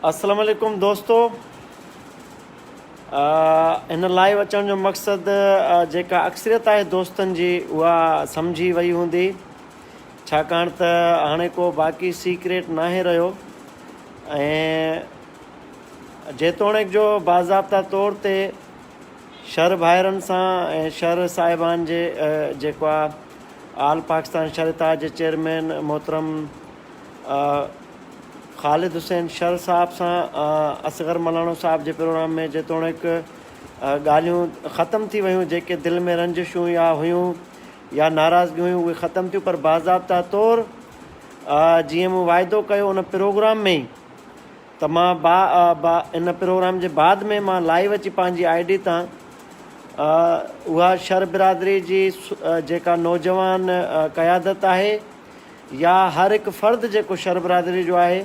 اسلام عليڪم دوستو هن لائيو اچڻ جو مقصد جيڪا اڪثريت آهي دوستن جي اها سمجهي وئي هوندي ڇاڪاڻ ته هاڻي ڪو باقي سيڪريٽ ناهي رهيو ۽ جيتوڻيڪ جو باضابطا طور تي شھر ڀائرن سان ۽ شھر صاحبان جي جيڪو آ آل پاڪستان شھر اتحاد جي چيئرمين محترم خالد حسين شھر صاحب سان اصغر ملاڻو صاحب جي پروگرام ۾ جيتوڻيڪ ڳالھيون ختم ٿي ويون جيڪي دل ۾ رنجشون يا ھيون يا ناراضگيون ھيون اھي ختم ٿيون پر باضابطه طور جيئن مون واعدو ڪيو ان پروگرام ۾ ئي ته مان با با ان پروگرام جي بعد ۾ مان لائيو اچي پنهنجي آئي ڊي تان اها شر برادري جي جيڪا نوجوان قيادت آهي يا هر هڪ فرد جيڪو شر برادري جو آهي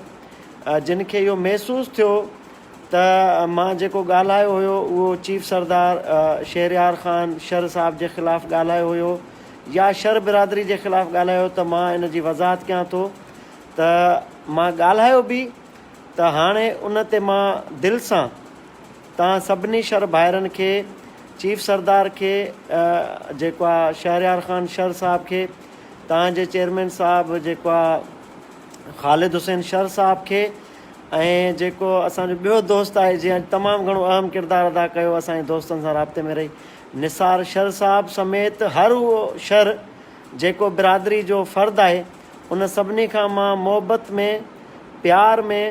جن کي اهو محسوس ٿيو ته مان جيڪو ڳالهايو هيو اهو چيف سردار شهريار خان شر صاحب جي خلاف ڳالهايو هيو يا شر برادري جي خلاف ڳالهايو ته مان ان جي وضاحت ڪيان ٿو ته مان ڳالهايو به ته هاڻي ان تي مان دل سان توهان سڀني شر ڀائرن کي چيف سردار کي جيڪو آ شهريار خان شر صاحب کي توهان جي چيئرمين صاحب جيڪو آ خالد حسين شر صاحب کي ۽ جيڪو اسان جو ٻيو دوست آهي جنهن اڄ تمام گهڻو اهم ڪردار ادا ڪيو اسان جي دوستن سان رابطي ۾ رهي نثار شر صاحب سميت هر اهو شر جيڪو برادري جو فرد آهي ان سڀني کان مان محبت ۾ پيار ۾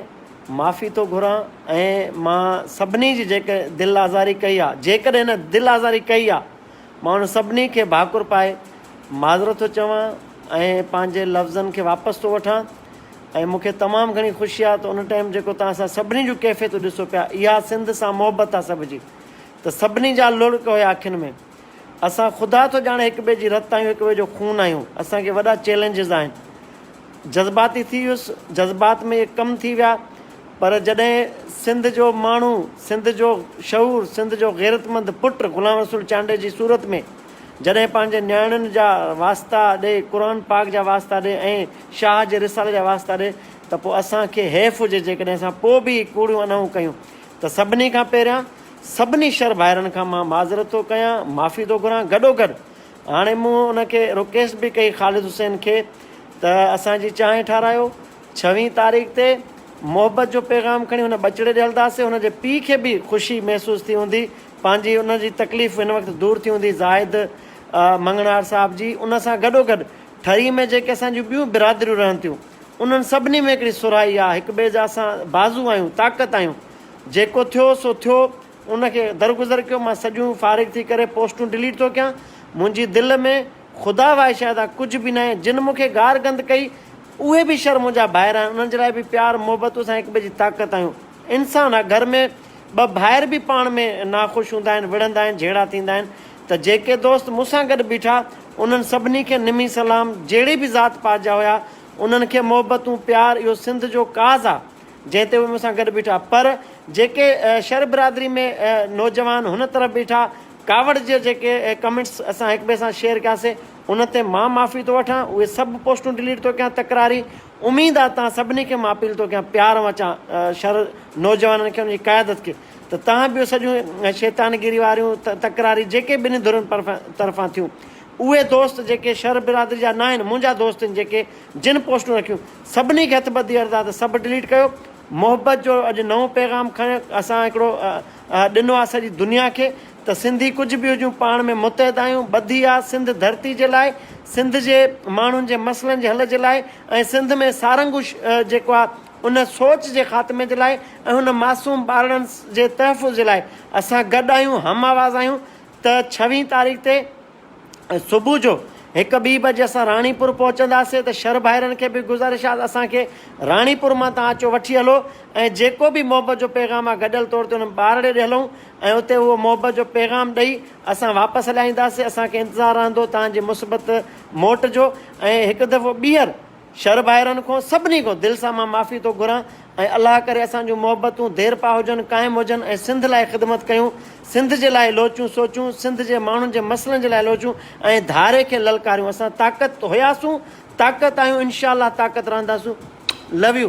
معافي ٿو گهران ۽ مان سڀني جي جيڪي دل آزاري ڪئي آ جيڪڏهن هن دل آزاري ڪئي آ مان ان سڀني کي ڀاڪر پائي معذرت ٿو چوان ۽ پنهنجي لفظن کي واپس ٿو وٺان ۽ مون کي تمام گهڻي خوشي آ ته ان ٽائيم جيڪو توهان سان سڀني جون ڪيفيتون ڏسو پيا اها سنڌ سان محبت آ سڀ جي ته سڀني جا لڙڪ هيا اکين ۾ اسان خدا ٿو ڄاڻي هڪ ٻئي جي رت آهيون هڪ ٻئي جو خون آهيون اسان کي وڏا چيلنجز آهن جذباتي ٿي ويس جذبات ۾ اهي ڪم ٿي ويا پر جڏهن سنڌ جو ماڻهو سنڌ جو شعور سنڌ جو غيرتمند پٽ غلام رسول چانڊي جي صورت ۾ جڏهن پنهنجي نياڻين جا واسطا ڏي قرآن پاڪ جا واسطا ڏي ۽ شاهه جي رسالي جا واسطا ڏي ته پوء اسان کي حيف هجي جيڪڏهن اسان پوء به ڪوڙيون انهون ڪيون ته سڀني کان پهريان سڀني شھر ڀائرن کان مان معذرت ٿو ڪيان معافي ٿو گھران گڏوگڏ ھاڻي مون ان کي رڪيسٽ به ڪئي خالد حسين کي ته اسان جي چانھه ٺارايو ڇوين تاريخ تي محبت جو پيغام کڻي ھن ٻچڙي ڏي ھلنداسين ھن جي پي کي به خوشي محسوس ٿي ھوندي پنھنجي ان جي تڪليف ھن وقت دور ٿي ھوندي زاھد مڱڻھار صاحب جي ان سان گڏوگڏ ٺري ۾ جيڪي اسان جون ٻيون برادريون رھن ٿيون انھن سڀني ۾ ھڪڙي سرھائي آ ھڪٻئي جا اسان بازو آھيون طاقت آھيون جيڪو ٿيو سو ٿيو ان کي درگذر ڪيو مان سڄيون فارغ ٿي ڪري پوسٽون ڊليٽ ٿو ڪيان منهنجي دل ۾ خدا واء شاهده ڪجهه به ناهي جن مون کي گار گند ڪئي اهي به شر منهنجا ڀائر آهن انهن جي لاء به پيار محبتون سان هڪٻئي جي طاقت آهيون انسان آ گهر ۾ ٻه ڀائر به پاڻ ۾ ناخوش هوندا آهن وڙهندا آهن جهيڙا ٿيندا آهن ته جيڪي دوست مون سان گڏ بيٺا انهن سڀني کي نمي سلام جهڙي به ذات پات جا هيا انهن کي محبتون پيار اهو سنڌ جو ڪاز آ جنهن تي هو مون سان گڏ بيٺا، پر جيڪي شر برادري ۾ نوجوان هن طرف بيٺا، ڪاوڙ جا جيڪي ڪمينٽس اسان هڪ ٻئي سان شيئر ڪياسي، ان تي مان معافي ٿو وٺان، اهي سڀ پوسٽون ڊليٽ ٿو ڪيان، تڪراري اميد آهي توهان سڀني کي مان اپيل ٿو ڪيان پيار مان چان شر نوجوانن کي ان جي قيادت کي ته توهان به اهو سڄيون شيطانگيري واريون تڪراري جيڪي ٻنهي ڌرين طرفان ٿيون اهي دوست جيڪي شر برادري جا ناهن منهنجا دوست آهن جيڪي جن پوسٽون رکيون سڀني کي هٿ ٻڌي عرض آ ته سڀ ڊليٽ ڪيو محبت جو اڄ نئون پيغام کڻي اسان هڪڙو ڏنو آ سڄي دنيا کي ته سنڌي ڪجهه به هجون پاڻ ۾ متحد آهيون ٻڌي آ سنڌ ڌرتي جي لاء سنڌ جي ماڻهن جي مسئلن جي حل جي لاء ۽ سنڌ ۾ سارنگ جيڪو آ ان سوچ جي خاتمي جي لاء ۽ هن معصوم ٻارڙن جي تحفظ جي لاء اسان گڏ آهيون هم آواز آهيون ته ڇويهين تاريخ تي صبح جو هڪ ٻي بجي اسان راڻيپور پهچنداسين ته شر ڀائرن کي به گذارش آ ته اسان کي راڻيپور مان تان اچو وٺي هلو ۽ جيڪو به محبت جو پيغام آ گڏيل طور تي انهن ٻارڙي ڏي هلون ۽ اتي اهو محبت جو پيغام ڏئي اسان واپس هليا اينداسين اسان کي انتظار رهندو تان جي مثبت موٽ جو ۽ هڪ دفعو ٻيهر شھر ڀائرن کون سڀني کون دل سان مان معافي ٿو گھران ۽ الله ڪري اسان جون محبتون ديرپا ھجن قائم ھجن ۽ سنڌ لاء خدمت ڪيون سنڌ جي لاء لوچون سوچون سنڌ جي ماڻھن جي مسئلن جي لاء لوچون ۽ ڌاري کي للڪاريون اسان طاقت ھياسون طاقت آھيون انشاء الله طاقت رھنداسون لو يو.